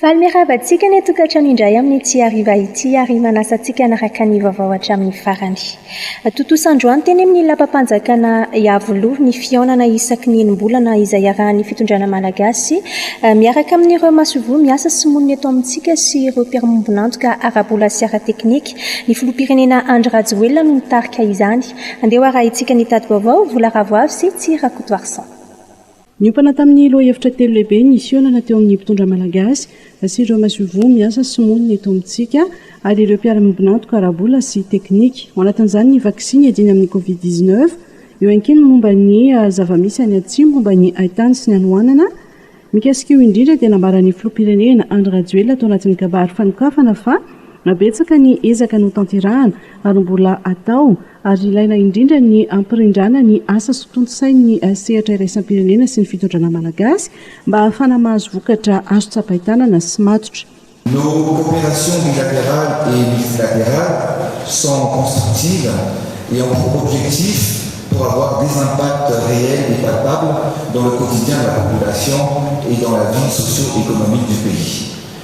Faly miarahaba antsika ny tokantrano indray amin'ity hariva ity ary manasa antsika hanaraka ny vaovao hatramin'ny farany. Tontosa androany teny amin'ny Lapam-panjakana Iavoloha ny fihaonana isaky ny enim-bolana izay iarahan'ny fitondrana malagasy miaraka amin'ireo masoivoho miasa sy monina eto amintsika sy ireo mpiara-miombon'antoka ara-bola sy ara-teknika. Ny filoham-pirenena Andry Rajoelina no nitarika izany. Andeha ho arahintsika ny tati-baovao, Vola Ravoavy sy Tsy Rakotoarison. Niompana tamin'ny lohahevitra telo lehibe ny fihaonana teo amin'ny mpitondra malagasy sy ireo masoivoho miasa sy monina eto amintsika ary ireo mpiara-miombon'antoka ara-bola sy teknika. Ao anatin'izany ny vaksiny hiadiana amin'ny Covid dix neuf, eo ihany koa ny momba ny zava-misy any Atsimo momba ny hain-tany sy ny hanoanana. Mikasika io indrindra dia nambaran'ny filoham-pirenena Andry Rajoelina tao anatin'ny kabary fanokafana fa betsaka ny ezaka notanterahana ary mbola hatao ary ilaina indrindra ny hampirindrana ny asa sy tontosain'ny sehatra iraisam-pirenena sy ny fitondrana malagasy mba hahafana mahazo vokatra azo tsapain-tanana sy matotra. Nos coopérations bilatérales et multilatérales sont constructives et ont pour objectif pour avoir des impacts réels et palpables dans le quotidien de la population et dans la vie socio-économique du pays.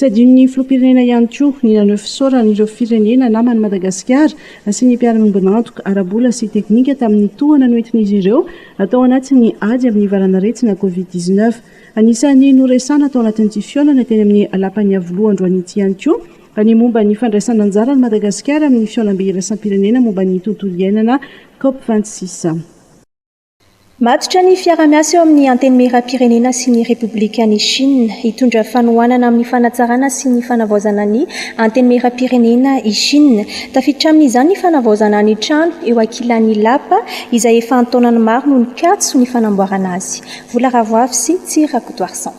Tsy adinon'ny filoham-pirenena ihany koa ny naneho fisaorana ireo firenena naman'i Madagasikara sy ny mpiara-miombon'antoka ara-bola sy teknika tamin'ny tohana noentin'izy ireo tao anatin'ny ady amin'ny valan'aretina Covid dix neuf. Anisan'ny noresahana tao anatin'ity fihaonana teny amin'ny lapan'ny Iavoloha androany ity ihany koa ny momba ny fandraisan'anjaran'i Madagasikara amin'ny fihaonambe iraisam-pirenena momba ny tontolo iainana Cop vingt six. Matotra ny fiarahamiasa eo amin'ny Antenimierampirenena sy ny Repoblikan'i Shina. Hitondra fanohanana amin'ny fanatsarana sy ny fanavaozana ny Antenimierampirenena i Shina. Tafiditra amin'izany ny fanavaozana ny trano eo ankilan'i Lapa, izay efa an-taonany maro no nikatso ny fanamboarana azy. Vola Ravoavy sy Tsy Rakotoarison.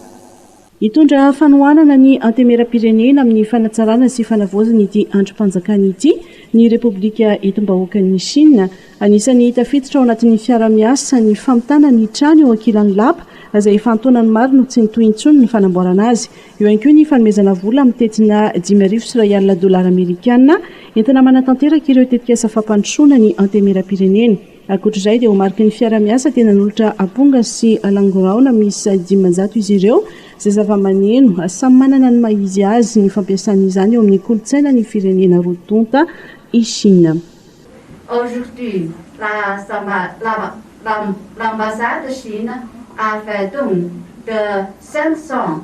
Hitondra fanohanana ny Antemeram-pirenena amin'ny fanatsarana sy fanavaozana ity andrim-panjakana ity ny Repoblika Entim-bahoakan'i Shina. Anisan'ny tafiditra ao anatin'ny fiaraha-miasa ny famitana ny trano eo ankilan'ny lapa, izay efa an-taonany maro no tsy nitohy intsony ny fanamboarana azy. Eo ihany koa ny fanomezana vola amin'ny tentina dimy arivo sy iray alina dolara amerikana entina manatanteraka ireo tetikasa fampandrosoana ny Antemeram-pirenena. Ankoatra izay dia ho mariky ny fiara-miasa dia nanolotra amponga sy alangoraona miisa dimanjato izy ireo izay zava-maneno samy manana ny maha izy azy ny fampiasana izany eo amin'ny kolontsaina ny firenena roa tonta i Shina. Aujourd'hui, l'ambassade chine a fait don de 500.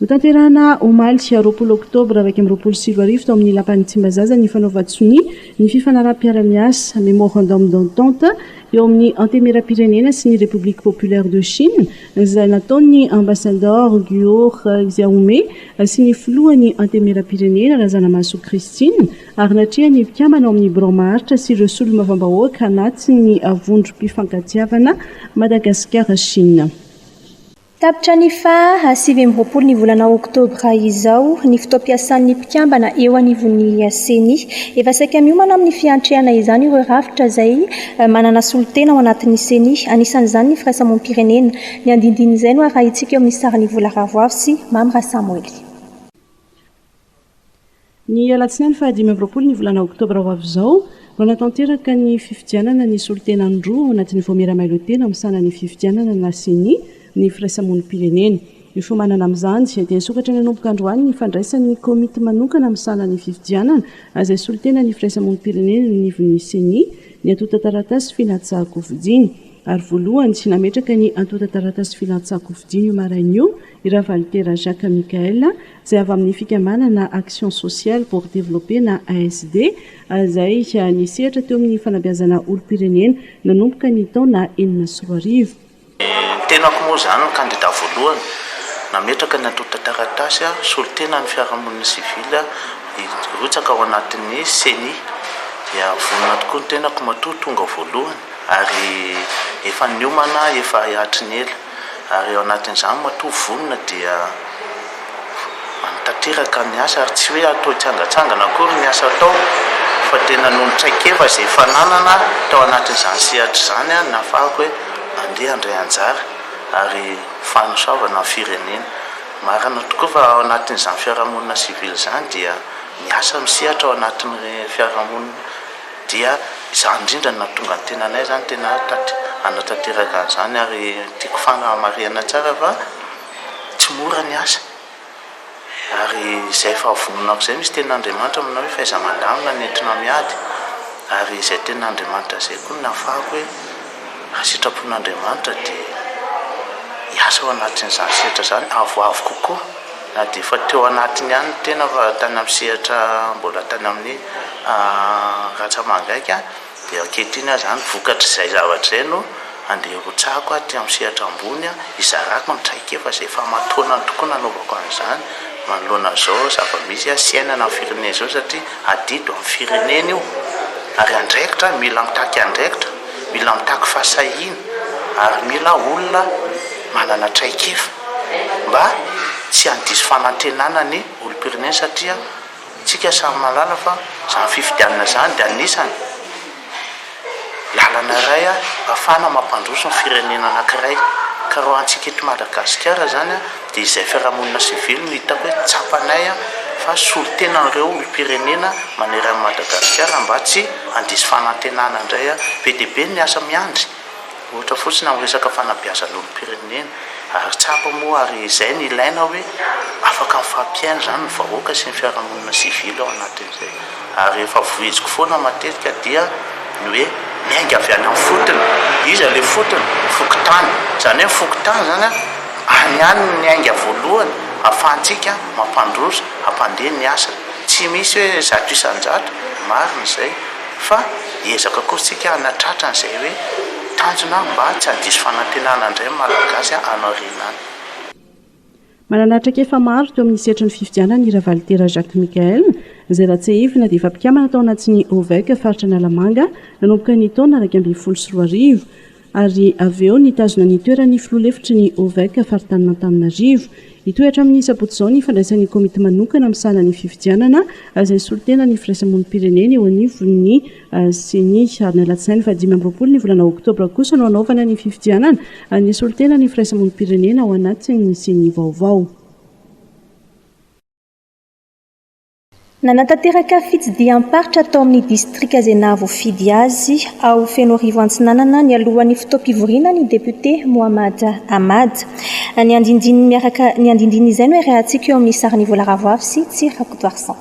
Notanterahina omaly roapolo oktobra iraika amby roapolo sy roa arivo tao amin'ny Lapan'ny Tsimbazaza ny fanaovan-tsonia ny fifanaraham-piara-miasa, Memorandum d'entente, eo amin'ny Antemieram-pirenena sy ny République Populaire de Chine, izay nataon'ny Ambasadaoro Guo Xiaomei sy ny Filohan'ny Antemieram-pirenena, Razanamahasoa Christine, ary natrehan'ny mpikambana ao amin'ny Birao Maharitra sy ireo Solombavambahoaka anatin'ny Vondrom-pifankatiavana Madagasikara-Chine. Tapitra ny faha sivy amby roapolo ny volana oktobra izao ny fotoam-piasan'ny mpikambana eo anivon'ny Ceni. Efa saika miomana amin'ny fiantrehana izany ireo rafitra izay manana solontena ao anatin'ny Ceni, anisan'izany ny firaisamonim-pirenena. Ny andinindin'izay no arahintsika eo amin'ny sarin'i Vola Ravoavy sy Mamy Rasamoely. Ny alatsinainy fahadimy amby roapolo ny volana oktobra ho avy izao no hanatanteraka ny fifidianana ny solontenany roa ao anatin'ny vaomiera mailo tena misahana ny fifidianana na ceni ny firaisamonim-pirenena. Ifomanana amin'izany dia nisokatra nanomboka androany ny fandraisan'ny komity manokana misahana ny fifidianana izay solontenan'ny firaisamonim-pirenena eo anivon'ny ceni ny antontan-taratasy filatsahan-kofidiny ary voalohany nametraka ny antontan-taratasy filatsahan-kofidiny io maraina io i Ravalitera Jacques Michaël izay avy amin'ny fikambanana Action Sociale pour Développer na ASD, izay nisehatra teo amin'ny fanabeazana olom-pirenena nanomboka ny taona enina sy roa arivo. Ny tenako moa izany no kandida voalohany, nametraka ny antontan-taratasy solontena ny fiarahamonina sivily hirotsaka ao anatin'ny Ceni, dia vonona tokoa ny tenako matoa tonga voalohany ary efa niomana efa hatry ny ela. ary ao anatin'izany matoa vonona dia tanteraka ny asa ary tsy hoe hatao hitsangantsangana akory ny asa atao fa tena noho ny traikefa izay efa nanana tao anatin'izany sehatra izany aho nahafahako hoe andeha handray anjara ary fanosoavana ny firenena. Marina tokoa fa ao anatin'izany fiarahamonina sivily izany dia miasa misehatra ao anatin'ny fiarahamonina. dia izany indrindra no nahatonga ny tenanay izany tena hanatanteraka an'izany ary tiako fanamarihana tsara fa tsy mora ny asa ary izay fahavononako izay misy tenin'Andriamanitra aminao hoe fahaiza-mandamina no entinao miady ary izay tenin'Andriamanitra izay koa no nahafahako hoe raha sitrapon'Andriamanitra dia hiasa ao anatin'izany sehatra izany avoavo kokoa. Na dia efa teo anatiny ihany ny tena fa tany amin'ny sehatra mbola tany amin'ny ratsamangaika dia ankehitriny aho izany vokatr'izay zavatra izay no andeha hirotsahako aty amin'ny sehatra ambony hizarako ny traikefa izay efa aman-taonany tokoa nanaovako an'izany manoloana an'izao zava-misy sy iainana amin'ny firenena izao satria adidy amin'ny firenena io ary andraikitra aho mila mitaky andraikitra mila mitaky fahasahiana ary mila olona manana traikefa mba tsy handiso fanantrenana ny olom-pirenena satria tsika samy mahalala fa zany fifidianana zany de anisany lalana iray ahafahana mampandroso ny firenena anakiray ka raha antsika eto Madagasikara zany de izay fiarahamonina sivily no hitako hoe tsapanay fa solotena an'ireo olom-pirenena maneran'i Madagasikara mba tsy handiso fanantenana indray be dia be ny asa miandry Ohatra fotsiny amin'ny resaka fanabeazan'olom-pirenena. Ary tsapa moa ary izay no ilaina hoe afaka mifampihaino izany ny vahoaka sy ny fiarahamonina sivily ao anatin'izay. Ary rehefa vohiziko foana matetika dia ny hoe miainga avy any amin'ny fotony. Iza ilay fotony? Fokontany. Izany hoe ny fokontany izany an, any ihany no miainga voalohany ahafahantsika mampandroso, hampandeha ny asa. Tsy misy hoe zato isan-jato, marina izay. Fa hiezaka kosa tsika hanatratra an'izay hoe tanjona mba tsy handiso fanantenana indray ny Malagasy any aoriana any. Manana traikefa maro teo amin'ny sehatry ny fifidianana i Ravalitera Jacques Michael, izay raha tsiahivina dia efa mpikambana tao anatin'ny OVEC faritra Analamanga nanomboka ny taona iraika ambin'ny folo sy roa arivo. ary avy eo nitazona ny toeran'ny filoha lefitry ny Ovec faritanin'Antananarivo. Hitohy hatramin'ny sabotsy izao ny fandraisan'ny komity manokana misahana ny fifidianana izay solontenan'ny firaisamonim-pirenena eo anivon'ny Ceni, ary ny alatsinainy faha dimy amby roapolo ny volana oktobra kosa no hanaovana ny fifidianana ny solontenan'ny firaisamonim-pirenena ao anatin'ny Ceni vaovao. Nanatanteraka fitsidiham-paritra tao amin'ny distrika izay nahavoafidy azy ao Fenoarivo Antsinanana nialohan'ny fotoam-pivoriana ny depiote Mohamad Ahmad. Ny andindiny miaraka ny andindiny izay no iarahantsika eo amin'ny sarin'i Vola Ravoavy sy Tsy Rakotoarison.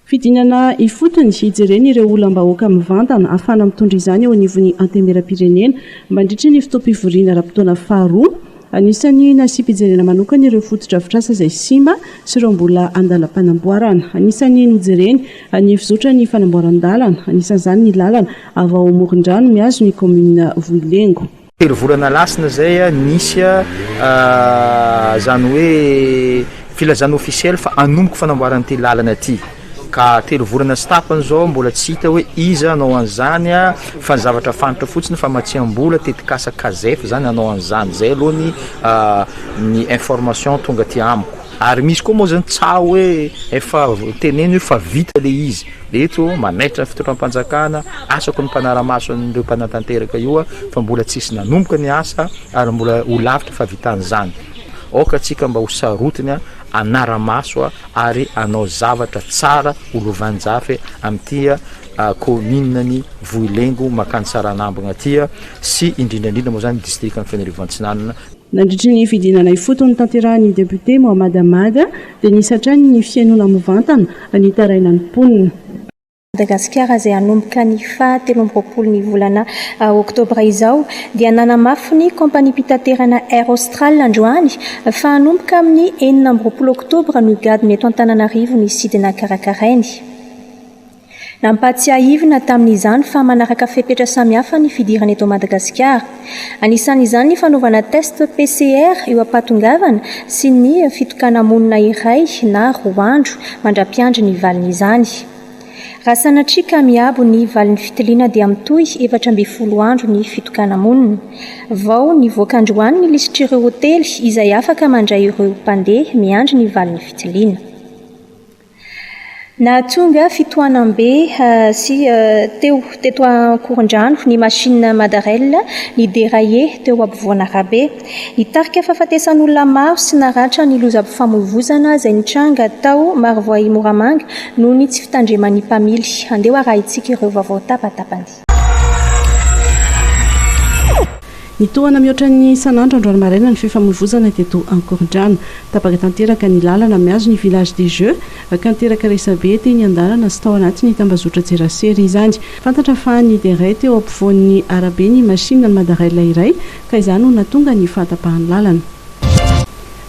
Fidinana ifotony hijerena ireo olam-bahoaka mivantana hahafahana mitondra izany eo anivon'ny Antenimierampirenena mandritra ny fotoam-pivoriana ara-potoana faharoa. Anisan'ny nasiam-pijerena manokana ireo fotodrafitrasa izay simba sy ireo mbola andalam-panamboarana. Anisan'ny nojereny ny fizotran' ny fanamboaran-dalana, anisan'izany ny lalana avy ao Morondrano mihazo ny kaominina Vohilengo. Telo volana lasina izay nisy izany hoe filazana ofisiely fa hanomboka fanamboarana ity lalana ity. Ka telo volana sy tapany zao mbola tsy hita hoe iza hanao an'izany a! Fa ny zavatra fantatra fotsiny famatsiam-bola, tetikasa Casef zany hanao an'izany, zay aloha ny ny information tonga aty amiko. Ary misy koa moa zany tsaho hoe efa teneno io fa vita le izy, eto manaitra ny fitondram-panjakana, asako ny mpanara-maso an'ireo mpanatanteraka io aho fa mbola tsisy nanomboka ny asa ary mbola ho lavitra fahavitan'izany, aoka tsika mba ho sarotiny a! hanara-maso ary hanao zavatra tsara ho lovanjafy amin'ity kaomininan'i Vohilengo mankany Tsaranambina ity sy indrindra indrindra moa izany ny distrikan'i Fanirivo Antsinanana. Nandritry ny fidinana ifotony notanterahin'ny depiote Mohammad Ahmad dia nisy hatrany ny fihainoana mivantana nitaraina ny mponina. Madagasikara izay hanomboka ny faha telo amby roapolo ny volana oktobra izao dia nanamafy ny kaompaniam-pitaterana Air Austral androany fa hanomboka amin'ny enina amby roapolo oktobra no higadona eto Antananarivo ny sidina karakarainy. Nampahatsiahivina tamin'izany fa manaraka fepetra samihafa ny fidirana eto Madagasikara. Anisan'izany ny fanaovana test PCR eo am-pahatongavana sy ny fitokana-monina iray na roa andro mandra-piandry ny valin'izany. Raha sanatria ka miabo ny valin'ny fitiliana dia mitohy efatra ambin'ny folo andro ny fitokana-monina. Vao nivoaka androany ny lisitr'ireo hotely izay afaka mandray ireo mpandeha miandry ny valin'ny fitiliana. Nahatonga fitohanam-be sy teo teto Ankorondrano ny machine Madarel ni-derailler teo ampovoan'arabe. Nitarika fahafatesan'olona maro sy naratra ny lozam-pifamoivoizana izay nitranga tao Marovoay Moramanga noho ny tsy fitandreman'ny mpamily. Andeha hoarahintsika ireo vaovao tapatapany. Nitohana mihoatra ny isan'andro androany maraina ny fifamoivoizana teto Ankorondrano. Tapaka tanteraka ny lalana mihazo ny Village des Jeux ka niteraka resabe teny an-dalana sy tao anatin'ny tambazotran-tserasera izany. Fantatra fa nideray teo ampovoan'ny arabe ny masinina Madarail iray ka izany no nahatonga ny fahatapahan'ny lalana.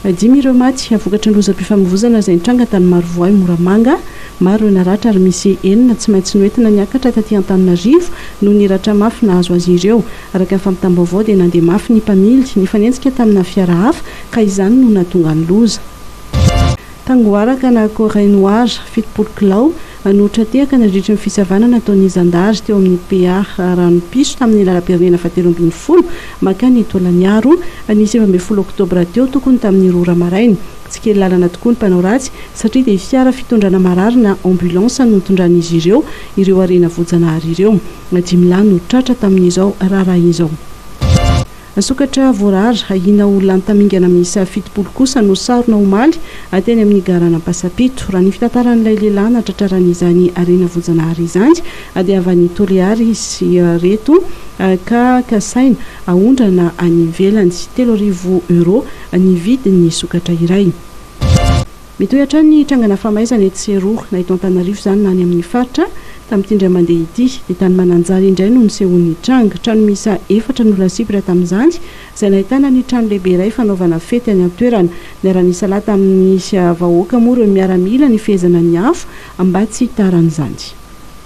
Dimy ireo maty vokatry ny lozam-pifamoivoizana izay nitranga tany Marovoay, Moramanga. Maro ireo naratra ary misy enina tsy maintsy noentina niakatra taty Antananarivo noho ny ratra mafy nahazo azy ireo. Araka ny fampitam-baovao dia nandeha mafy ny mpamily, nifanenjika tamina fiara hafa ka izany no nahatonga ny loza. Tangoara ka na Corey Noir fitopolo kilao, Nanohitra tehaka nandritry ny fisavana nataon'ny zandary teo amin'ny PA Ranopiso tamin'ny lalam-pirenena fahatelo ambin'ny folo mankany Tolagnaro, ny sivy ambin'ny folo oktobra teo, tokony tamin'ny roa ora maraina. Tsy kely lalana tokoa ny mpanao ratsy satria dia fiara fitondrana marary na ambulance no nitondran'izy ireo ireo harena voajanahary ireo. Dimy lahy no tratra tamin'izao raharaha izao. Sokatra voarara ahiana ho lany tamingana miisa fitopolo kosa no sarona omaly teny amin'ny garana Ampasapito. Raha ny fitantaran'ilay lehilahy nahatratrarana izany harena voajanahary izany dia avy any Toliary izy ireto ka kasaina haondrana any ivelany. Telo arivo euros ny vidin'ny sokatra iray. Mitohy hatrany ny trangana famaizana etsy sy eroa, na eto Antananarivo izany na any amin'ny faritra. Tamin'ity indray mandeha ity, dia tany Mananjary indray no nisehoan'ny tranga. Trano miisa efatra no lasibra tamin'izany, izay nahitana ny trano lehibe iray fanaovana fety any an-toerana. Niara-nisalahy tamin'ny vahoaka moa ireo miaramila nifehezana ny afo mba tsy hitaran'izany.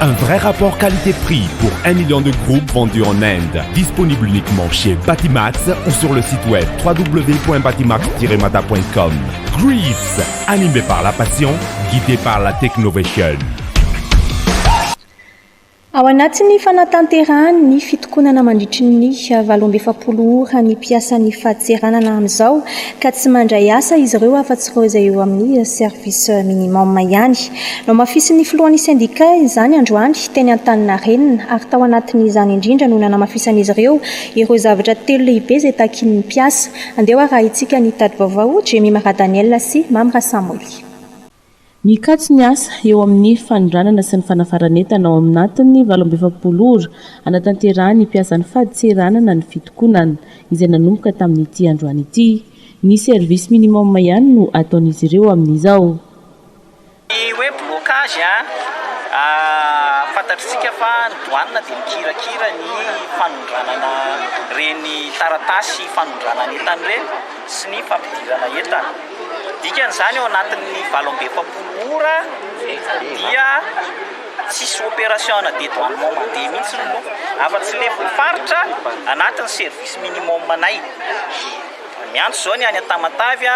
Un vrai rapport qualité prix pour un million de groupes vendus en Inde. Disponible uniquement chez Batimax ou sur le site web www.batimax-mada.com. Grease, animé par la passion, guidé par la technovation. Ao anatin'ny fanatanterahany ny fitokonana mandritry ny valo amby efapolo ora ny mpiasan'ny fadintseranana amin'izao ka tsy mandray asa izy ireo afa-tsy ireo izay eo amin'ny service minimum ihany. Nohamafisin'ny filohan'ny sendika izany androany teny Antaninarenina ary tao anatin'izany indrindra no nanamafisan'izy ireo ireo zavatra telo lehibe izay takin'ny mpiasa. Andeha ho arahintsika ny tati-baovao Jemima Radaniela sy Mamy Rasamoily. Mikatso ny asa eo amin'ny fanondranana sy ny fanafaran'entana ao anatin'ny valo amby efapolo ora hanatanterahan'ny mpiasa ny fadintseranana ny fitokonana izay nanomboka tamin'ity androany ity. Ny service minimum ihany no ataon'izy ireo amin'izao. Ny hoe blocage, fantatritsika fa ny douane dia mikirakira ny fanondranana ireny taratasy fanondranana entana ireny sy ny fampidirana entana. Dikan'izany ao anatin'ny valo amby efapolo ora dia tsisy opération de dédouanement mandeha mihitsy aloha afa-tsy ilay mpivarotra anatin'ny service minimum anay. Miantso izao ny any Tamatave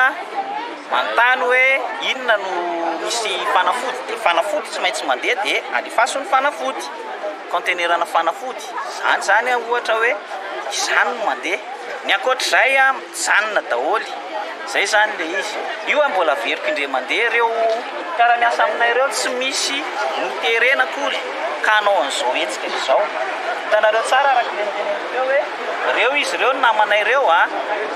manontany hoe inona no misy fanafody dia fanafody tsy maintsy mandeha dia alefaso ny fanafody, kaontenerana fanafody, izany izany ohatra hoe izany no mandeha, ny ankoatr'izay mijanona daholo, izay izany ilay izy, io ary mbola averiko indray mandeha ireo mpiara-miasa aminay ireo tsy misy noterena akory ka hanao an'izao hetsika izao, hitanareo tsara araka ilay noteneniko teo hoe. Reo izy reo ny namanay reo a!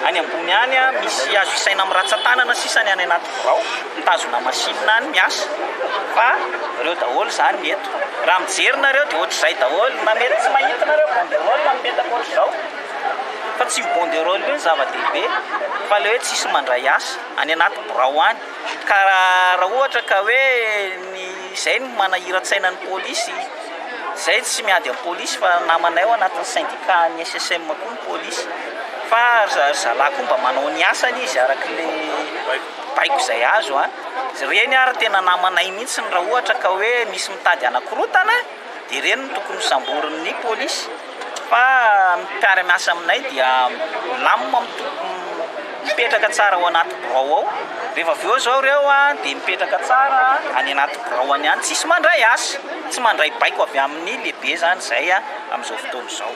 Any ambony any a! Misy azo isaina am ratsatanana sisa ny any anaty birao mitazona machine any miasa fa reo daholo zany ny eto! Raha mijery nareo de otrzay daholo na mety tsy mahita nareo banderole na mipetaka otrizao fa tsy io banderole io ny zava dehibe fa le hoe tsisy mandray asa any anaty birao any ka raha ohatra ka hoe ny zay no manahiratsaina ny polisy. Zay tsy miady am polisy fa namanay ao anatin'ny syndicat an'ny SSM koa ny polisy fa ry zalahy koa mba manao ny asany izy araka le baiko zay azo an! reny ary tena namanay mihitsy raha ohatra ka hoe misy mitady hanakorotana dia ireny no tokony hosamborin'ny polisy. Fa ny mpiara-miasa aminay dia milamina mipetraka tsara ao anaty birao ao, rehefa avy eo izao ireo dia mipetraka tsara any anaty birao any ihany, tsisy mandray asa, tsy mandray baiko avy amin'ny lehibe izany izay amin'izao fotoana izao.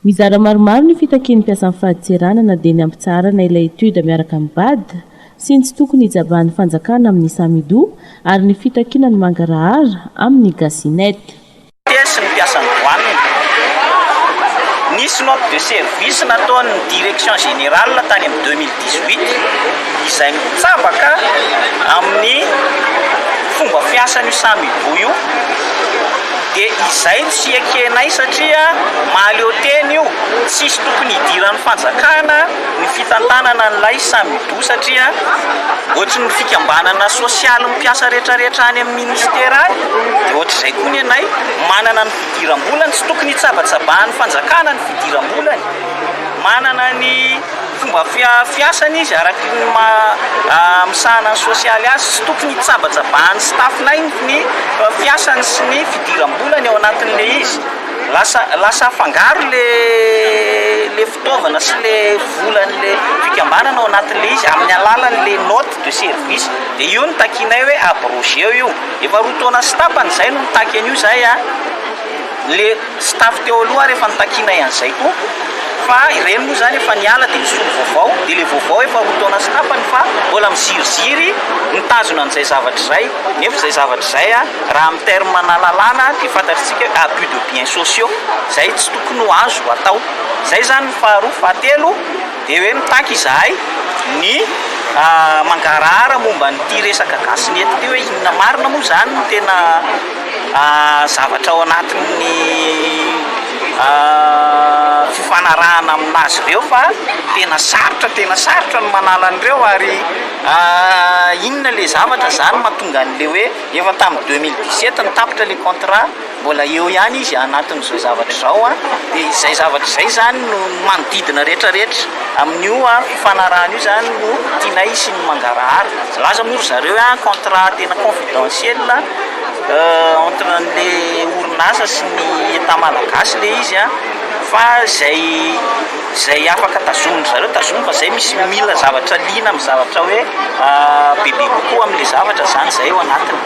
Mizara maromaro ny fitakian'ny mpiasan'ny fadintserana na dia ny hampitsaharana ilay étude miaraka amin'ny bad sy ny tsy tokony hijabahan'ny fanjakana amin'ny samidoha ary ny fitakiana ny mangarahara amin'ny gasinet. Tena sy ny mpiasan'ny douane. Nisy note de service nataon'ny direction générale tany amin'ny deux mille dix huit izay mitsabaka amin'ny fomba fiasan'io samy hiboy io dia izay no tsy ekenay satria mahaleo tena io, tsisy tokony hidiran'ny fanjakana ny fitantanana an'ilay samy hiboy satria ohatry ny fikambanana sosialy mpiasa rehetrarehetra any amin'ny. Minisitera any, dia ohatr'izay koa ny anay, manana ny fidiram-bolany, tsy tokony hitsabatsabahan'ny fanjakana ny fidiram-bolany, manana ny fomba fiasany izy araka ny maha misahana ny sosialy azy, tsy tokony hitsabatsabahan'ny staff-nay ny fiasany sy ny fidiram-bolany ao anatin'ilay izy, lasa lasa afangaro ilay. fitaovana sy le volan'le fikambanana ao anatin'le izy amin'ny alalan'le note de service de io no takianay hoe abrogeo io efa roa taona sy tapany zay no mitaky an'io zay an le staff teo aloha ary efa nitakianay an'izay koa fa ireny moa zany efa niala de nisolo vaovao de le vaovao efa roa taona sy tapany fa mbola miziriziry mitazona an'izay zavatra izay nefa izay zavatra izay an raha amin'ny terme-na lalàna dia fantatr'isika hoe abus de biens sociaux izay tsy tokony ho azo atao zay zany ny faharoa, fahatelo de hoe mitaky izahay ny mangarahara momba an'ity resaka gasy ny eto ty hoe inona marina moa zany ny tena zavatra ao anatin'ny fifanarahana amin'azy ireo fa tena sarotra tena sarotra ny manala an'ireo ary inona le zavatra zany mahatonga an'le hoe efa tamin'ny deux mille dix sept no tapitra le contrat Mbola eo ihany izy anatin'izao zavatra izao an, dia izay zavatra izay izany no manodidina rehetra rehetra amin'io fifanarahana io izany no tianay hisian'ny mangarahara, milaza moa ry zareo hoe contrat tena confidentiel entre an'le orinasa sy ny état malagasy le izy an, fa izay. Zay afaka tazomin-dry zareo tazomy fa zay misy mila zavatra liana amin'ny zavatra hoe bebe kokoa amin'ilay zavatra zany zay ao anatiny.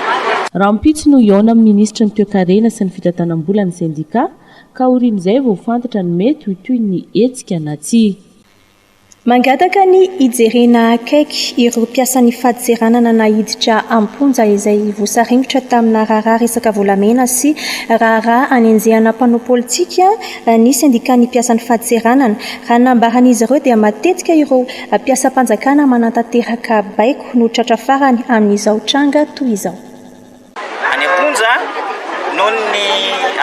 Rahampitso no hihaona amin'ny minisitry ny Toekarena sy ny fitantanam-bola ny sendikà ka aorian'izay vao ho fantatra ny mety ho tohin'ny hetsika na tsia. Mangataka ny hijerena akaiky ireo mpiasan'ny fadintseranana naiditra am-ponja izay voasaringotra tamina raharaha resaka volamena sy raharaha hanenjehana mpanao politika, raha ny sendikan'ny mpiasan'ny fadintseranana. Raha ny nambaran'izy ireo dia matetika ireo mpiasam-panjakana manantanteraka baiko no tratra farany amin'izao tranga toy izao. Any am-ponja noho ny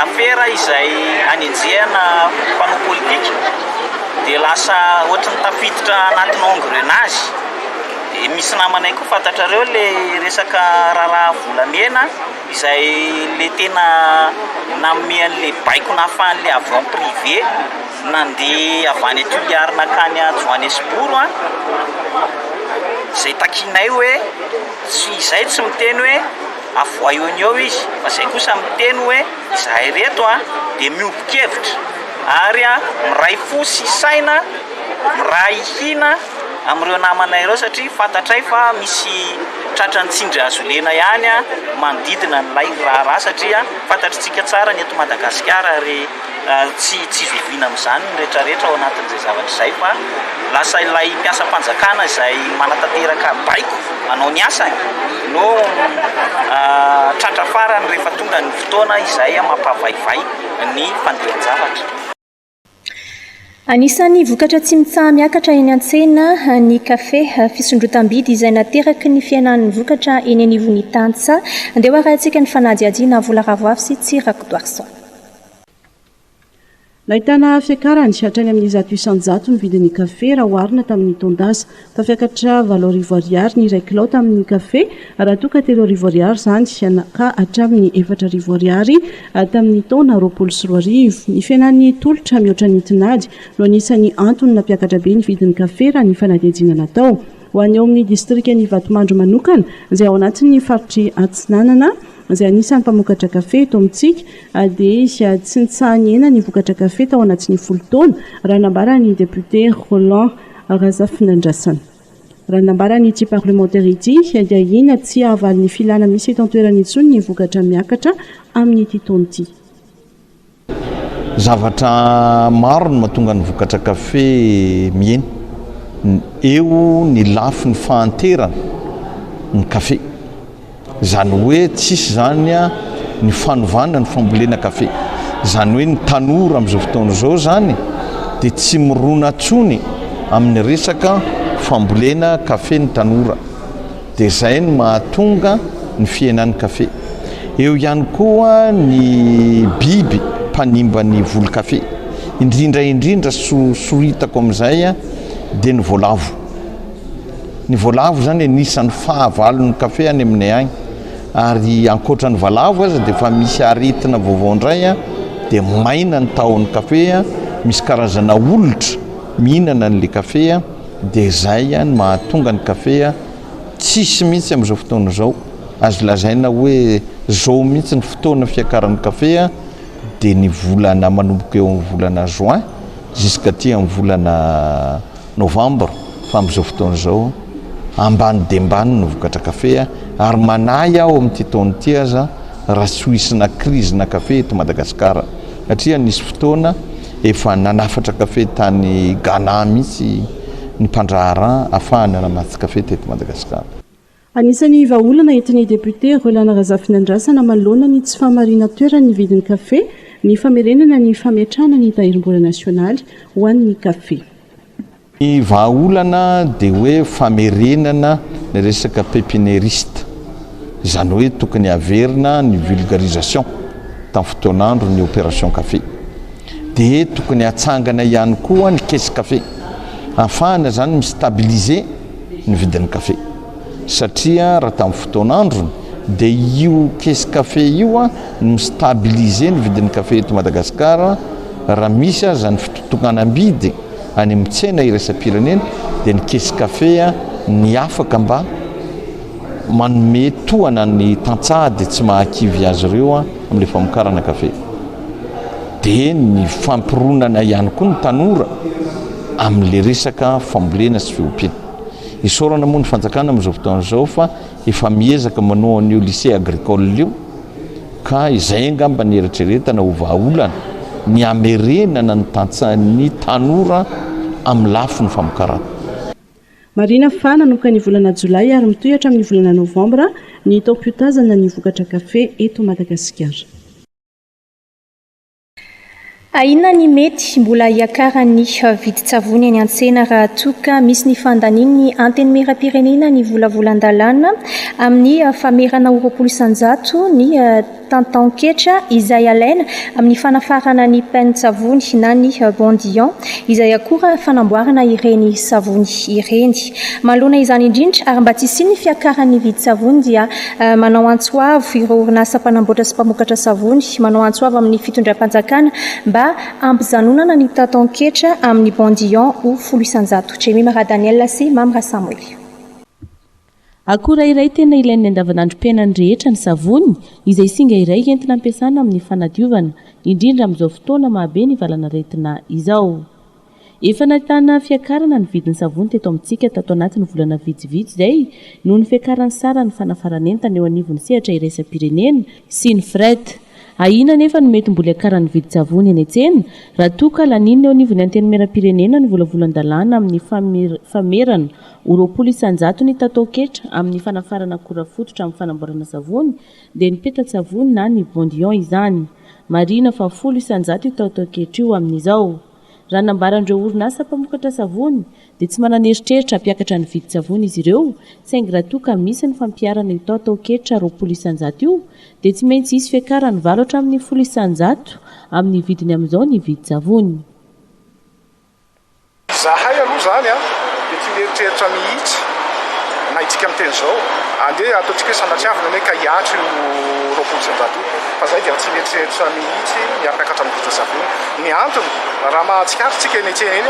afera izay anenjehana mpanao politika dia lasa ohatran'ny tafiditra anatin'ny engrenage. Misy namanay koa fantatrareo ilay resaka raharaha volamena. izay ilay tena nanome an'ilay baiko nahafahan'ilay avion privé nandeha avy any Toliary nankany Johannesburg an, izay takianay hoe tsy izahay tsy miteny hoe avohay eo ny eo izy fa izay kosa miteny hoe izahay ireto an dia miombon-kevitra ary an miray fo sy saina, miray hina. amin'ireo namanay ireo satria fantatray fa misy tratran'ny tsindry hazolena ihany manodidina an'ilay raharaha satria fantatritsika tsara ny eto Madagasikara ary tsy tsy zoviana amin'izany ny rehetrarehetra ao anatin'izay zavatra izay fa lasa ilay mpiasam-panjakana izay manatanteraka baiko manao ny asany no tratra farany rehefa tonga ny fotoana izay mampavaivay ny fandehan-javatra. Anisan'ny vokatra tsy mitsaha-miakatra eny an-tsena ny kafe, fisondrotam-bidy izay nateraky ny fihenan'ny vokatra eny anivon'ny tantsaha. Andeha hoarahintsika ny fanadihadiana Vola Ravoavy sy Tsy Rakotoarison. Nahitana fiakarany hatrany amin'ny zato isan-jato ny vidin'ny kafe raha oharina tamin'ny taon-dasa. Tafiakatra valo arivo ariary ny iray kilao tamin'ny kafe raha toa ka telo arivo ariary izany ka hatramin'ny efatra arivo ariary tamin'ny taona roapolo sy roa arivo. Ny fihenan'ny tolotra mihoatra ny tinady no anisan'ny antony nampiakatra be ny vidin'ny kafe raha ny fanadihadiana natao ho an'ny ao amin'ny distrikan'i Ivatomandry manokana izay ao anatin'ny faritr'i Atsinanana izay anisan'ny mpamokatra kafe eto amintsika dia tsy nitsaha-nihena ny vokatra kafe tao anatin'ny folo taona raha nambaran'ny depiote Roland Razafinandrasana. Raha ny nambaran'ity parlemantera ity dia ina tsy hahavalin'ny filana misy eto an-toerana intsony ny vokatra miakatra amin'ity taona ity. Zavatra maro no mahatonga ny vokatra kafe mihena. Eo ny lafiny fahanterana ny kafe. Izany hoe tsisy izany ny fanovana ny fambolena kafe. Izany hoe ny tanora amin'izao fotoana izao izany dia tsy mirona intsony amin'ny resaka fambolena kafe ny tanora. Dia izay no mahatonga ny fihenan'ny kafe. Eo ihany koa ny biby mpanimba ny voly kafe. Indrindra indrindra soritako amin'izay dia ny voalavo. Ny voalavo izany anisan'ny fahavalon'ny kafe any aminay any. Ary ankoatra ny valavo aza dia efa misy aretina vaovao indray dia maina ny tahon'ny kafe, misy karazana olitra mihinana an'ilay kafe dia izay no mahatonga ny kafe tsisy mihitsy amin'izao fotoana izao. Azo lazaina hoe izao mihitsy ny fotoana fiakaran'ny kafe dia ny volana manomboka eo amin'ny volana juin jusqu'aty amin'ny volana Novambra, fa amin'izao fotoana izao ambany dia ambany ny vokatra kafe ary manahy aho amin'ity taona ity aza raha tsy ho isina krizina kafe eto Madagasikara satria nisy fotoana efa nanafatra kafe tany Ghana mihitsy ny mpandraharaha afahany namatsy kafe teto Madagasikara. Anisan'ny vahaolana entin'ny depiote Rolland Razafinandrasana manoloana ny tsy fahamarinan-toeran'ny vidin'ny kafe ny famerenana ny fametrahana ny tahirim-bola nasionaly ho an'ny kafe. Ny vahaolana dia hoe famerenana ny resaka pepinieriste, izany hoe tokony haverina ny vulgarisation tamin'ny fotoan'andron'ny opération kafe. Dia tokony hatsangana ihany koa ny caisse kafe, hahafahana izany mi-stabiliser, ny vidin'ny kafe satria raha tamin'ny fotoan'androny dia io caisse café io a no mi-stabiliser ny vidin'ny kafe eto Madagasikara raha misy aza ny fitotokanam-bidy any amin'ny tsena iraisam-pirenena dia ny caisse café a ny afaka mba manome tohana ny tantsaha dia tsy mahakivy azy ireo a amin'ilay famokarana kafe. dia ny fampironana ihany koa ny tanora amin'ilay resaka fambolena sy fiompiana. Isaorana moa ny fanjakana amin'izao fotoana izao fa efa miezaka manao an'io lycée agricole io ka izay angamba ny eritreretana ho vahaolana ny hamerenana ny tantsahan'ny tanora amin'ny lafiny famokarana. Marihina fa nanomboka ny volana jolay ary mitohy hatramin'ny volana novambra ny taom-piotazana ny vokatra kafe eto Madagasikara. Ahiana ny mety mbola hiakaran'ny vidin-tsavony eny an-tsena raha toa ka misy ny fandanian'ny Antenimierampirenena ny volavolan-dalàna amin'ny famerana ho roapolo isan-jato ny tantan-ketra izay alaina amin'ny fanafarana ny pain-tsavony na ny Bondillon izay akora fanamboarana ireny savony ireny. Manoloana izany indrindra ary mba tsy hisian'ny fiakaran'ny vidin-tsavony dia Manao antso avo ireo orinasa mpanamboatra sy mpamokatra savony, manao antso avo amin'ny fitondram-panjakana mba hampijanonana ny tataon-ketra amin'ny Bandillon ho folo isan-jato. Jemima Radaniel sy Mamy Rasamoly. Akora iray tena ilain'ny andavanandrom-piainan'ny rehetra ny savony, izay singa iray entina ampiasana amin'ny fanadiovana, indrindra amin'izao fotoana mahabe ny valan'aretina izao. Efa nahitana fiakarana ny vidin'ny savony teto amintsika tato anatin'ny volana vitsivitsy izay noho ny fiakaran'ny saran'ny fanafaran'entana eo anivon'ny sehatra iraisam-pirenena sy ny fret. Ahiana anefa ny mety mbola hiakaran'ny vidin-tsavony eny an-tsena raha toa ka laniana eo anivon'ny Antenimierampirenena ny volavolan-dalàna amin'ny famerana ho roapolo isan-jatony tataoketra amin'ny fanafarana akora fototra amin'ny fanamboarana savony dia ny petan-tsavony na ny Bondion izany. Marihina fa folo isan-jato io tataoketra io amin'izao. Raha ny nambaran'ireo orinasa mpamokatra savony dia tsy manana eritreritra hampiakatra ny vidin-tsavony izy ireo saingy raha toa ka misy ny fampiharana io taotaoketra roapolo isanjato io dia tsy maintsy hisy fiakarany valo hatramin'ny folo isanjato amin'ny vidiny amin'izao ny vidin-tsavony. Zahay aloha izany dia tsy mieritreritra mihitsy na hidika amin'ny teny izao andeha ataontsika hoe sanatriavina anie ka hiato io roapolo isanjato io fa zahay dia tsy mieritreritra mihitsy ny hampiakatra ny vidin-tsavony. Ny antony, raha mahatsikaritra tsika eny an-tsena eny,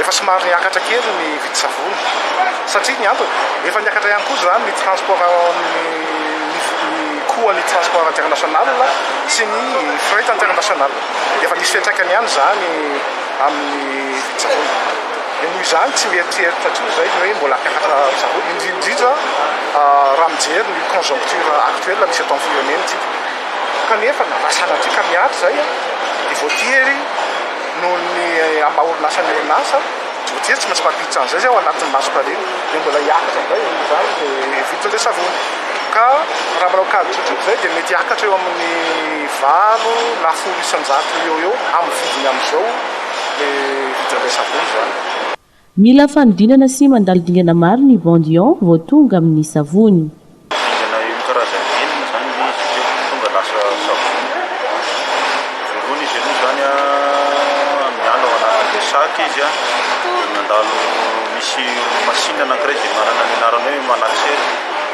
efa somary niakatra kely ny vidin-tsavony. Satria ny antony, efa niakatra ihany koa izany ny transport ny coût ny transport international sy ny fret international. Dia efa misy fiantraikany ihany izany amin'ny vidin-tsavony. Dia noho izany tsy mieritreritra akory izay ny hoe mbola hampiakatra savony, indrindra indrindra raha mijery ny conjoncture actuelle misy eto amin'ny firenena tsika. Kanefa na sanatria ka miady izay, dia voatery noho ny amin'ny maha orinasa ny orinasa, voatery tsy maintsy mampiditra an'izay izay ao anatin'ny mason-karena, dia mbola hiakatra indray amin'izany ny vidin'ilay savony. Ka raha manao kajy tsotr'ity izay dia mety hiakatra eo amin'ny valo na folo isan-jato eo ho eo amin'ny vidiny amin'izao ilay vidin'ilay savony izany. Mila fanodinana sy mandalo dingana maro ny Bandion vao tonga amin'ny savony. Dingana eo amin'ny karazany enina izany ilay izy satria vao tonga lasa savony. Voalohany izy aloha izany an, miala ao anatin'ilay sac izy an, dia mandalo, misy machine anankiray izay manana ny anarana hoe malaxer,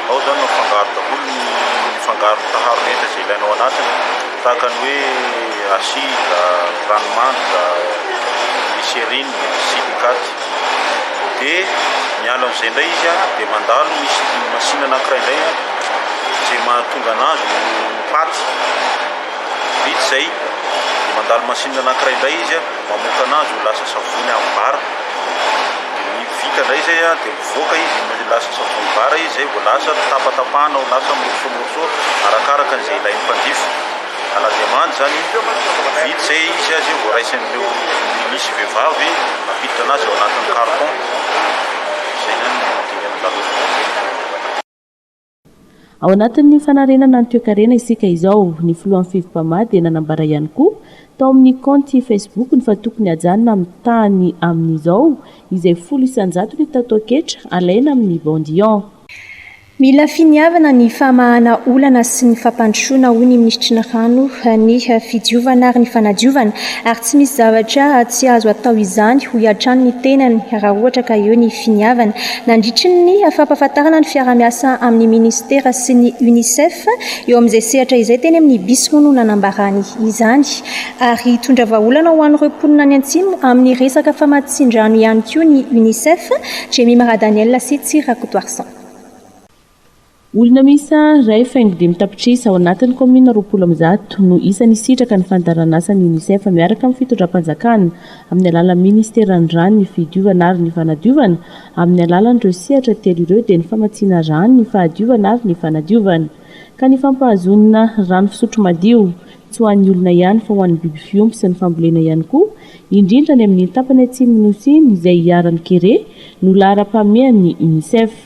ao izany no afangaro daholo ny, ny fangaro taharo rehetra izay ilaina ao anatiny. tahaka ny hoe acide, ranomandrika, glycerine, silicates. Dia miala amin'izay indray izy a, dia mandalo misy masina anankiray indray a, izay mahatonga anazy ho paty. Vita izay, mandalo masina anankiray indray izy a, mamoaka anazy ho lasa savony amin'ny vary. Dia vita indray izay a, dia. Nivoaka izy, no lasa savony bara izy, izay vao lasa tapatapahana ho lasa morceaux morceaux arakaraka an'izay ilain'ny mpanjifa. Ala dia mandry izany, vita izay izy dia vao raisin'ireo milisy vehivavy mampiditra anazy ao anatin'ny carton. Izay izany no dingana laloto. Ao anatin'ny fanarenana ny toekarena isika izao. Ny filohan'ny Fivpama dia nanambara ihany koa tao amin'ny kaonty Facebook-ny fa tokony hajanona amin'ny tahany amin'izao izay folo isan-jato ny tataoketra alaina amin'ny Bandian. Mila finiavana ny famahana olana sy ny fampandrosoana hoy ny minisitry ny Rano, ny fidiovana ary ny fanadiovana ary tsy misy zavatra tsy azo atao izany hoy hatrany ny tenany raha ohatra ka eo ny finiavana Nandritry ny fampahafantarana ny fiaraha-miasa amin'ny Minisitera sy ny Unicef eo amin'izay sehatra izay teny amin'ny Bisy moa no nanambarany izany. Ary hitondra vahaolana ho an'ireo mponina any Antsimo amin'ny resaka famatsian-drano ihany koa ny Unicef, Jemima Radaniel sy Tsy Rakotoarison. Olona miisa iray faingo dimy tapitrisa ao anatin'ny kaominina roapolo amby zato no isan'ny hisitraka ny fandaharanasan'ny Unicef miaraka amin'ny fitondram-panjakana amin'ny alalan'ny minisiteran'ny Rano, ny Fidiovana ary ny Fanadiovana amin'ny alalan'ireo sehatra telo ireo dia ny famatsiana rano, ny fahadiovana ary ny fanadiovana ka ny fampahazoana rano fisotro madio tsy ho an'ny olona ihany fa ho an'ny biby fiompy sy ny fambolena ihany koa indrindra any amin'ny tapany atsimon'ny Nosy izay iharan'ny kere no laharam-pahamehan'ny Unicef.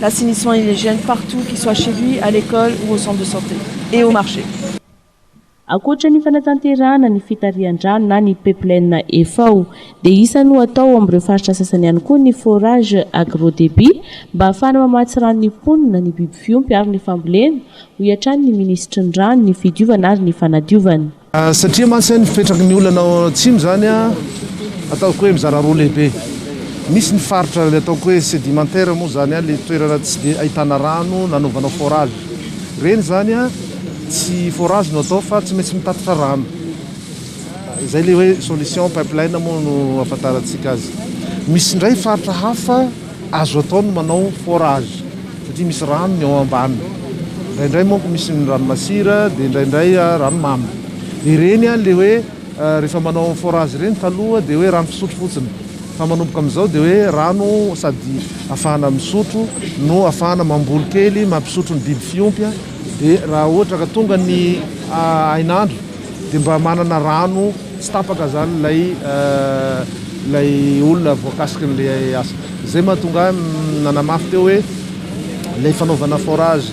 L'assainissement et l'hygiène partout qu'il soit chez lui, à l'école ou au centre de santé et au marché. Ankoatra ny fanatanterahana ny fitarihan-drano na ny pipeline FAO dia isany ho atao amin'ireo faritra sasany ihany koa ny forage agro-débit mba hahafahana mamatsy rano ny mponina, ny biby fiompy ary ny fambolena, hoy hatrany ny minisitry ny Rano, ny Fidiovana ary ny Fanadiovana. Satria mantsy ny fipetraky ny olona ao Atsimo izany ataoko hoe mizara roa lehibe. Misy ny faritra ilay ataoko hoe sédimentaire moa izany ilay toerana tsy dia ahitana rano nanaovanao forage. Ireny izany tsy forage no atao fa tsy maintsy mitatitra rano. Izay ilay hoe solution pipeline moa no ahafantarantsika azy. Misy indray faritra hafa. Azo atao ny manao forage satria misy rano ny ao ambany. Indraindray manko misy ny rano masira dia indraindray rano mamy. Dia ireny ilay hoe rehefa manao forage ireny taloha dia hoe rano fisotro fotsiny. Fa manomboka amin'izao dia hoe rano sady afahana misotro no afahana mamboly kely mampisotro ny biby fiompy dia raha ohatra ka tonga ny hainandro dia mba manana rano tsy tapaka izany ilay ilay olona voakasikin'ilay asa. Izay mahatonga ahy nanamafy teo hoe ilay fanaovana forage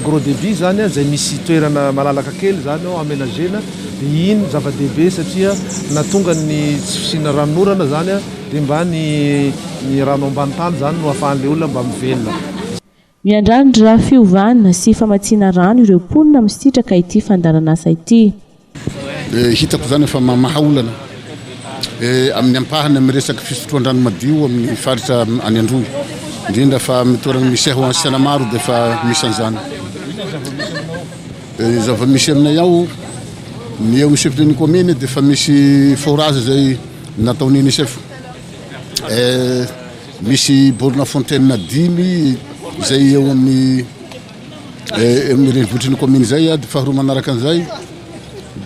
gros débit izany izay misy toerana malalaka kely izany ao aménagena dia iny zava-dehibe satria na tonga ny tsy fisiana ranon'orana izany dia mba ny ny rano ambany tany izany no ahafahan'ilay olona mba mivelona. Miandrandra fiovana sy famatsiana rano ireo mponina misitraka ity fandaharanasa ity. Hitako izany fa mamaha olana amin'ny ampahany amin'ny resaka fisotroan-drano madio amin'ny faritra any Androy, indrindra fa amin'ny toerana misy ahy ho any Sianamaro dia efa misy an'izany. Ny zava-misy aminay ao, ny eo amin'ny chef-lieu-n'ny kaominina dia efa misy forage izay nataon'ny UNICEF. Misy borona fontaine dimy izay eo amin'ny eh, amin'ny renivohitry ny commune izay ady ah, faharoa manaraka an'izay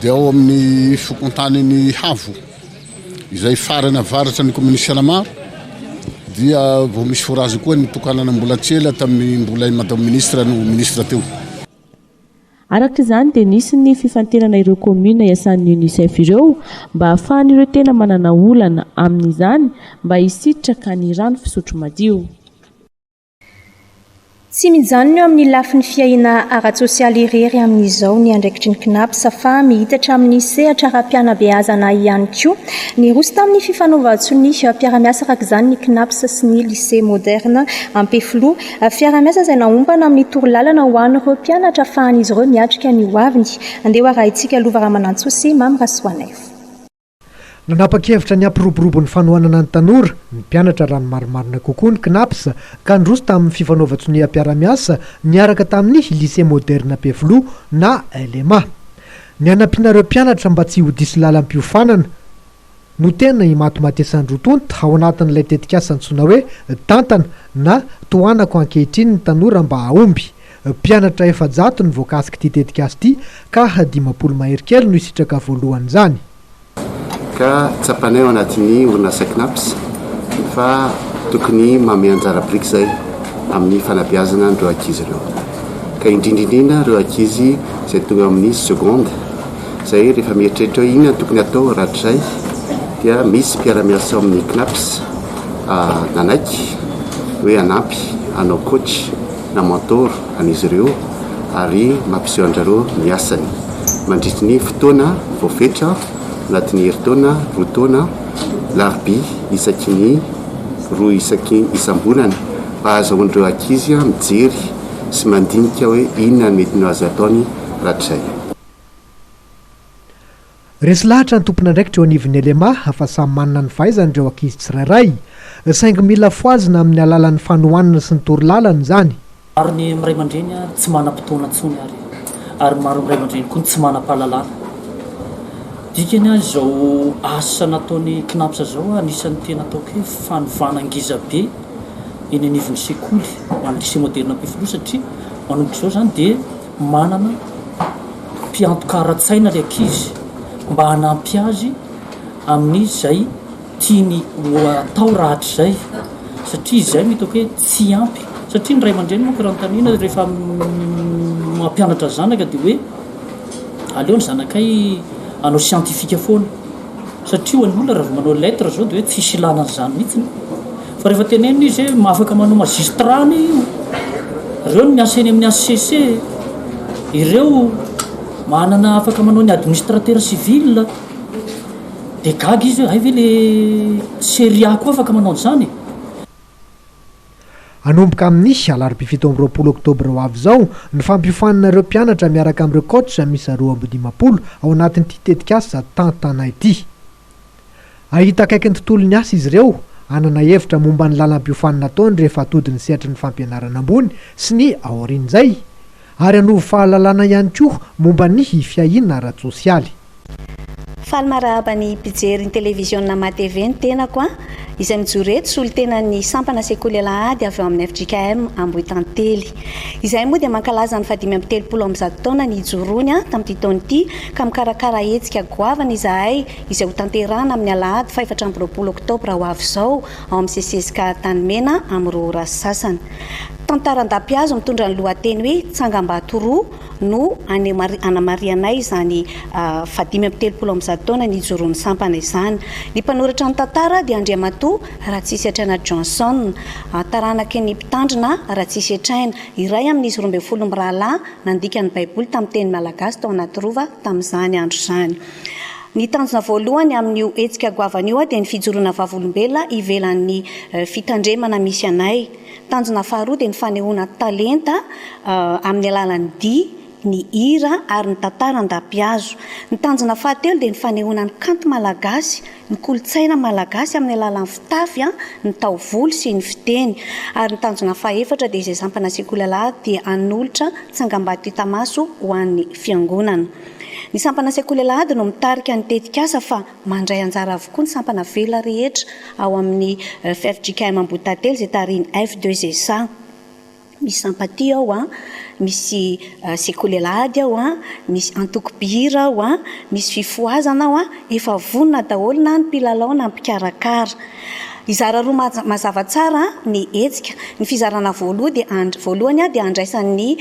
dia ao amin'ny fokontaniny Havo izay farany avaratra ny commune Sianamaro dia vao misy forage koa ny tokanana mbola tsy ela tamin'ny mbola i madame ministre no ministre teo. Araka izany dia nisy ny fifantenana ireo kaominina iasan'ny UNICEF ireo mba hahafahan'ireo tena manana olana amin'izany mba hisitraka ny rano fisotro madio. Tsy mijanona eo amin'ny lafiny fiahiana ara-tsosialy irery amin'izao ny andraikitry ny Cnaps fa mihitatra amin'ny sehatra ara-pianabeazana ihany koa. Niroso tamin'ny fifanaovan-tso ny mpiara-miasa araka izany ny Cnaps sy ny Lycée Moderne Ampefiloha. Fiaraha-miasa izay naompana amin'ny torolalana ho an'ireo mpianatra afahan'izy ireo miatrika ny hoaviny. Andeha ho arahintsika Lova Ramanantsoa sy Mamy Rasoanaivo. Nanapa-kevitra ny hampiroborobo ny fanohanana ny tanora, ny mpianatra raha ny marimarina kokoa ny Cnaps, ka niroso tamin'ny fifanaovan-tsoniam-piarahamiasa niaraka tamin'ny Lycée Moderne Ampefiloha na LMA. Ny hanampiana ireo mpianatra mba tsy ho diso lalam-piofanana, no tena imatimatesandroa tonta ao anatin'ilay tetikasa antsoina hoe Tantana na Tohanako ankehitriny ny tanora mba hahomby. Mpianatra efajato no voakasik'ity tetikasa ity ka dimampolo mahery kely no hisitraka voalohan'izany. Ka tsapanay ao anatin'ny orinasa Cnaps fa tokony manome anjara biriky izay amin'ny fanabeazana an'ireo ankizy ireo ka indrindra indrindra ireo ankizy izay tonga amin'ny seconde Zay rehefa mieritreritra hoe inona no tokony atao rahatrizay dia misy mpiara-miasa ao amin'ny CNAPS nanaiky hoe hanampy hanao coach na mentor an'izy ireo ary mampiseho an-dry ny asany mandritry ny fotoana voafetra anatin'ny herintaona roa taona alarobia isaky ny roa isaky isam-bolana mba hahazahoan'ireo ankizy mijery sy mandinika hoe inona ny mety ny ho azy ataony rahatrizay. Resy lahatra ny tompon'andraikitra eo anivon'ny LMA fa samy manana ny fahaizany ireo ankizy tsirairay, saingy mila fohazina amin'ny alalan'ny fanohanana sy ny toro lalana izany. Maro ny ray aman-dreny tsy manam-potoana intsony ary ary maro ny ray aman-dreny koa no tsy manam-pahalalana. Dikany izao asa nataon'ny Cnaps izao anisan'ny tena ataoko hoe fanovana ngizabe eny anivon'ny sekoly ho an'ny Lycée Moderne Ampefiloha satria manomboka izao izany dia Manana mpiantoka ara-tsaina ilay ankizy mba hanampy azy amin'izay tiany ho atao rahatrizay satria izay no hitako hoe tsy ampy. Satria ny ray aman-dreny manko raha notaniana rehefa mampianatra zanaka dia hoe aleo ny zanakay hanao siantifika foana. Satria ho an'ny olona raha vao manao lettre zao dia hoe tsisy ilana an'izany mihitsy ny. Fa rehefa tenenina izy hoe afaka manao magistrat anie io. Ireo no miasa eny amin'ny HCC. Ireo manana afaka manao ny administrateur civil. Dia gaga izy hoe hay ve le seria koa afaka manao an'izany? Hanomboka amin'ny alarobia fito amby roapolo oktobra ho avy izao ny fampiofanana ireo mpianatra miaraka amin'ireo coach miisa roa amby dimampolo ao anatin'ity tetikasa Tantana ity. Hahita akaiky ny tontolon'ny asa izy ireo, hanana hevitra momba ny lalam-piofanana ataony rehefa atody ny sehatry ny fampianarana ambony sy ny aorian'izay, ary hanovo fahalalana ihany koa momba ny fiahiana ara-tsosialy. Faly marahaba ny mpijery ny televiziona MaTv ny tenako an! izay mijoro eto solontenan'ny sampana sekoly alahady avy ao amin'ny fjkm Ambohitantely. Izahay moa dia mankalaza ny fahadimy amby telopolo amby zato taona nijoroany an! tamin'ity taona ity ka mikarakara hetsika goavana izahay izay hotanterahana amin'ny alahady fahefatra amby roapolo oktobra ho avy izao ao amin'ny CCSK Antanimena amin'ny roa ora sasany. Tantara an-dapihazo mitondra ny lohateny hoe Tsangambato roa no hanamarihanay izany faha dimy amby telopolo amby zato taona nijoroan'ny sampana izany. Ny mpanoratra ny tantara dia Andriamatoa Ratsisyatraina Johnson, taranaky ny Mpitandrina Ratsisyatraina, iray amin'izy roa ambin'ny folo mirahalahy nandika ny Baiboly tamin'ny teny malagasy tao Anatirova tamin'izany andro izany. Ny tanjona voalohany amin'io hetsika goavana io dia ny fijoroana vavolombelona ivelan'ny fitandremana misy anay. Tanjona faharoa dia ny fanehoana ny talenta amin'ny alalan'ny dihy, ny hira ary ny tantara an-dapihazo. Ny tanjona fahatelo dia ny fanehoana ny kanto malagasy, ny kolontsaina malagasy amin'ny alalan'ny fitafy, ny taovolo sy ny fiteny. Ary ny tanjona fahefatra dia izay sampana sekolala dia hanolotra tsangambato hita maso ho an'ny fiangonana. Ny sampana sekolala ady no mitarika ny tetikasa fa. Mandray anjara avokoa ny sampana velona rehetra ao amin'ny fjkm Ambohitatelo izay tarihin'ny F2GESA. Misy Sampatia ao an, misy sekoly alahady ao an, misy antoko mpihira ao an, misy fifohazana ao an, efa vonona daholo na ny mpilalao na ny mpikarakara. Hizara roa maja- mazava tsara ny hetsika. Ny fizarana voaloha dia and- voalohany dia andraisan'ny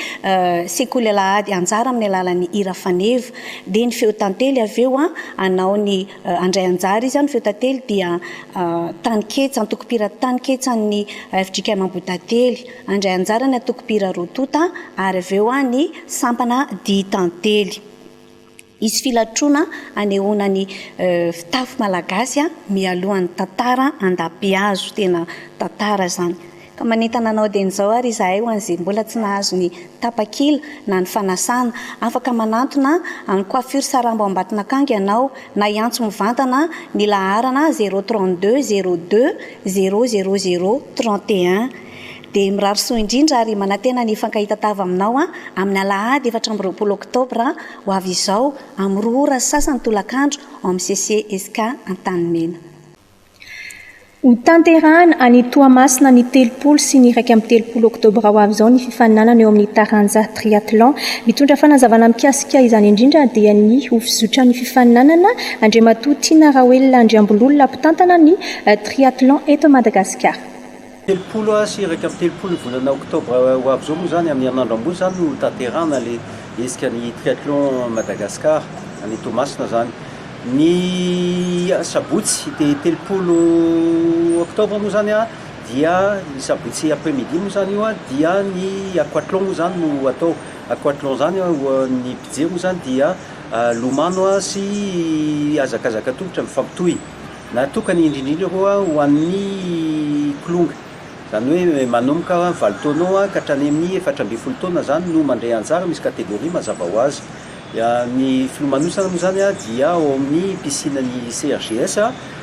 sekoly alahady anjara amin'ny alalan'ny hira faneva. dia ny feo tantely avy eo an, hanao ny handray anjara izy an, ny feo tantely dia taninketsa, antokom-pira taninketsa an' ny FJKM Ambohidately, handray anjara ny antokom-pira roa tonta ary avy eo ny sampana dihy tantely. Hisy filatroana hanehoana ny fitafy malagasy mialohan'ny tantara andapihazo, tena tantara izany. Ka manentana anao dieny izao ary izahay ho an'izay mbola tsy nahazo ny tapakila na ny fanasana. Afaka manantona an'ny Coiffure Sarambo Ambatonakanga ianao na hiantso mivantana ny laharana zéro trente deux zéro deux zéro zéro zéro trente et un. Dia mirary soa indrindra ary manantena ny hifankahita-tava aminao amin'ny alahady efatra amby roapolo oktobra ho avy izao amin'ny roa ora sy sasany tolakandro ao amin'ny CCESCA Antanimena. Ho tanterahina any Toamasina ny telopolo sy ny iraika amby telopolo oktobra ho avy izao ny fifaninanana eo amin'ny taranja triathlon. Mitondra fanazavana mikasika izany indrindra dia ny ho fizotran'ny fifaninanana Andriamatoa Tiana Raoelina Andriambololona mpitantana ny triathlon eto Madagasikara. Telopolo sy iraika amby telopolo ny volana oktobra ho avy izao moa izany, amin'ny herinandro ambony izany no hotanterahana ilay hetsika ny Triathlon Madagascar any Toamasina izany. Ny sabotsy dia telopolo oktobra moa izany dia ny sabotsy après midi moa izany io dia ny aquathlon moa izany no atao. Aquathlon izany ny mpijery moa izany dia lomano sy hazakazaka an-tongotra mifampitohy. Natokana indrindra ho'a ho an'ny kilonga. Izany hoe manomboka valo taonao ka hatrany amin'ny efatra ambin'ny folo taona izany no mandray anjara, misy catégorie mazava ho azy. Ny filomanosana moa izany dia ao amin'ny piscine ny CRGS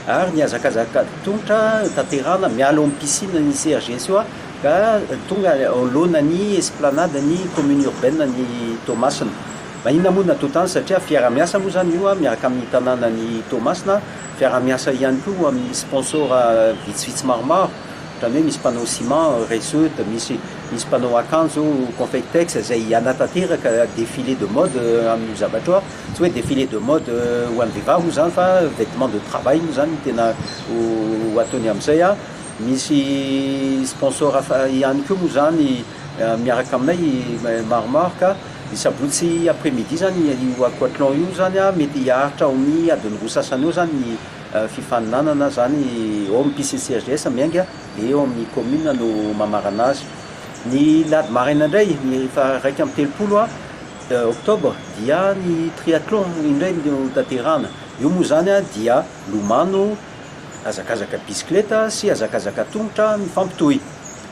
ary ny hazakazaka tongotra tanterahana miala ao amin'ny piscine ny CRGS io ka tonga ao anoloanan'ny esplanade ny commune urbaine ny Toamasina. Na inona moa ny natao tany satria fiarahamiasa moa izany io miaraka amin'ny tanànan'i Toamasina, fiarahamiasa ihany koa ho amin'ny sponsor vitsivitsy maromaro, ohatran'ny hoe misy mpanao ciment, Reseaute, misy misy mpanao akanjo, Confectex, izay hanatanteraka défilé de mode amin'io zavatra io, tsy hoe défilé de mode ho an'ny vehivavy moa izany fa vêtement de travail moa izany no tena ho ho ataony amin'izay, misy sponsor hafa ihany koa moa izany miaraka aminay maromaro ka. Ny sabotsy après midi zany io aquathlon io zany an, mety hiaritra ao amin'ny adin'ny roa sasany eo zany ny fifaninanana zany ao amin'ny piscine CHDS Miainga an, dia eo amin'ny commune no mamarana azy. Ny alahady maraina indray ny faha-iraika amby telopolo octobre dia ny triathlon indray no hotanterahana, io moa zany an dia lomano, hazakazaka bisikileta sy hazakazaka an-tongotra mifampitohy.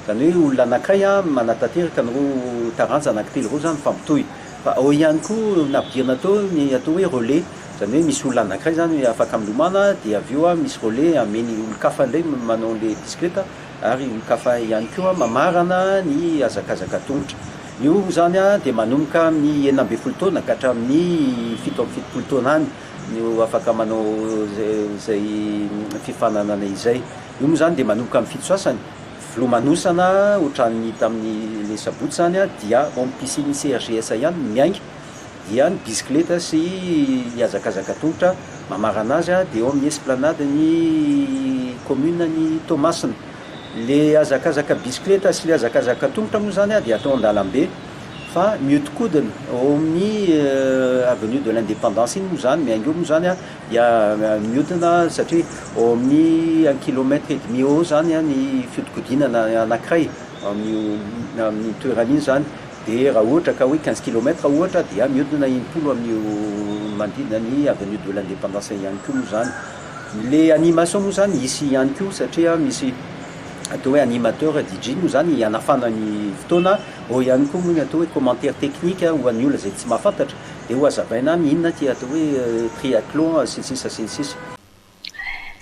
Izany hoe olona anankiray no manatanteraka an'ireo taranja anankitelo ireo izany mifampitohy. Fa ao ihany koa ny nampidirina teo ny atao hoe relais, izany hoe misy olona anankiray izany afaka milomana dia avy eo misy relais ameiny olon-kafa indray manao an'ilay bisikileta ary olon-kafa ihany koa mamarana ny hazakazaka an-tongotra. Io izany dia manomboka amin'ny enina ambin'ny folo taona ka hatramin'ny fito amby fitopolo taona any no afaka manao izay fifaninanana izay. Io moa izany dia manomboka amin'ny fito sasany. Filomanosana ohatran'ny hita amin'ny le sabotsy zany dia ao amin'ny piscine CHJS ihany no miainga dia ny bisikileta sy ny hazakazaka tongotra mamarana azy dia eo amin'ny esplanade ny commune ny Toamasina. Le hazakazaka bisikileta sy le hazakazaka tongotra moa zany dia atao an-dalambe fa mihodinkodina ao amin'ny avenue de l'independance iny moa zany miainga eo moa zany. dia mihodina satria ao amin'ny un kilomètre et demi eo zany ny fihodinkodinana anankiray amin'io amin'iny toerana iny zany dia raha ohatra ka hoe quinze kilomètre ohatra dia mihodina enimpolo amin'io manodidina ny avenue de l'indépendance ihany koa moa zany le animation moa zany hisy ihany koa satria misy atao hoe animateur DJ moa zany hianafana ny fotoana ao ihany koa moa ny atao hoe commentaire technique ho an'ny olona izay tsy mahafantatra Dia ho hazavaina any inona ity atao hoe triathlon sy ny sisa sy ny sisa.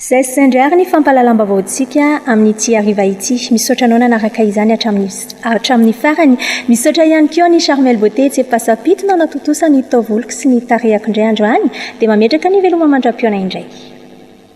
Zay sendra ary ny fampahalalam-baovaontsika amin'ity hariva ity. Misaotra anao nanaraka izany hatramin'ny hatramin'ny farany. Misaotra ihany koa an'i Charmel Beauté etsy Ampasampito nanatontosa ny taovoloko sy ny tarehako indray andro any dia mametraka ny veloma mandram-pihaona indray.